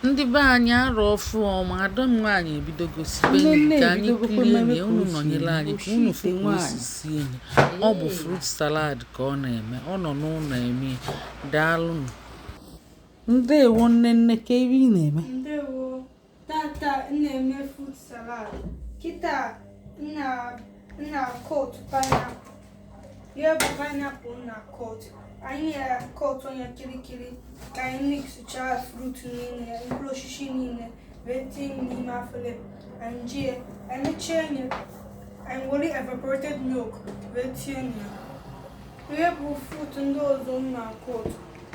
ndị be anyị arọ ọfụụ ọma ada m nwaanyị ebidogo sibe nri ka anyị kirie na ya unu nọnyere anyị ka unu fụ ka o si esi nni ọ bụ fruit salad ka ọ na-eme ọ nọ n'ụnọ eme ya daalụnụ ndewo nne nne kee ife ị na-eme ndewo tata na-eme fruit salad kịta na cut pineapple ihe bụ pineapple na cut anyị ya cut nya kirikiri ka anyị mixchaa fruit niile mkpụrụ osisi niile wee tinye n'ime afele anyị jie anyị chee nye anyị were evaporated milk wee tinye nya ihe bụ fruit ndị ọzọ na cut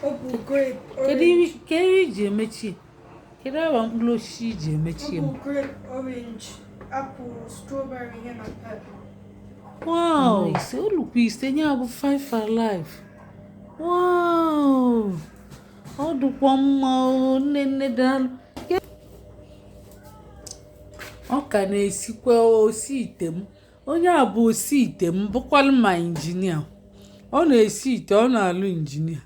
ọ bụ grape kedu ihe i ji emechi Kedu agba mkpụrụ osisi i ji emechi m? Wow, ise o lukwu ise nya bụ five alive. Wow, ọ dụkwa mma o nne nne daalụ. Ọ ka na-esikwa osi ite m. Onye a bụ osi ite m bụkwalụ ma injinia. Ọ na-esi ite, ọ na-alụ injinia.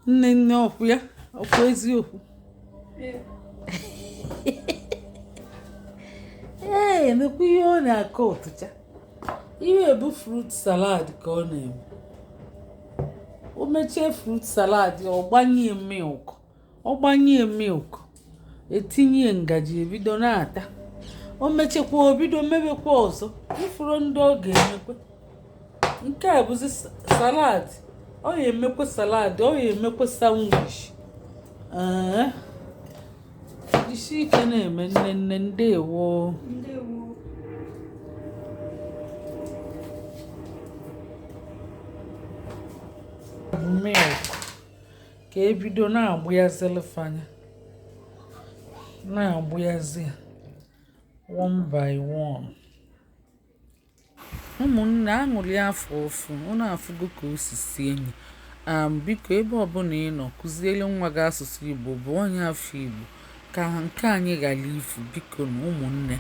nne nne ọ kwa ya ọ kwa eziokwu ee emekwa ihe ọ na-acutcha ihe ọ bụ fruit salad ka ọ na-eme o mechie fruit salad ọ gbanye milk ọ gbanye milk e tinye ngaji e bido na-ata o mechekwa o bido mebekwa ọzọ ị fụrụ ndị ọ ga-emekwa nke a bụzi salad ọ ya emekwa salad ọ ya emekwa sandwich ee isi ike na-eme nne nne ndewo milk ka e bido na-agbayazịlị fa nya na-agbayazị one by one ụmụnne aṅụrị afọ ọfụụ unu afụgo ka o si esi nni a biko ebe ọbụla ị nọ kụziere nwa gị asụsụ igbo bụ onye afọ igbo ka nke anyị ghara ifu bikonu ụmụnne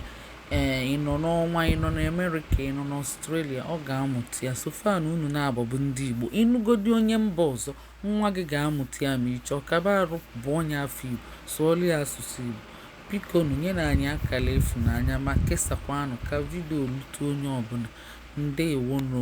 ee eh, ị nọ n'ọnwa ị nọ n'america ị nọ n'australia ọ ga-amụta ya so far na unu naabọ bụ ndị igbo ị nụgodi onye mba ọzọ Nwa gị ga-amụta ya ma ị chọọ. Kaba arụ bụ onye afọ Igbo, sụọlụ ya asụsụ Igbo. Bikonu nyenụ anyị akara ịfụnanya ma kesakwanụ ka video rute onye ọbụla. Ndewonụ.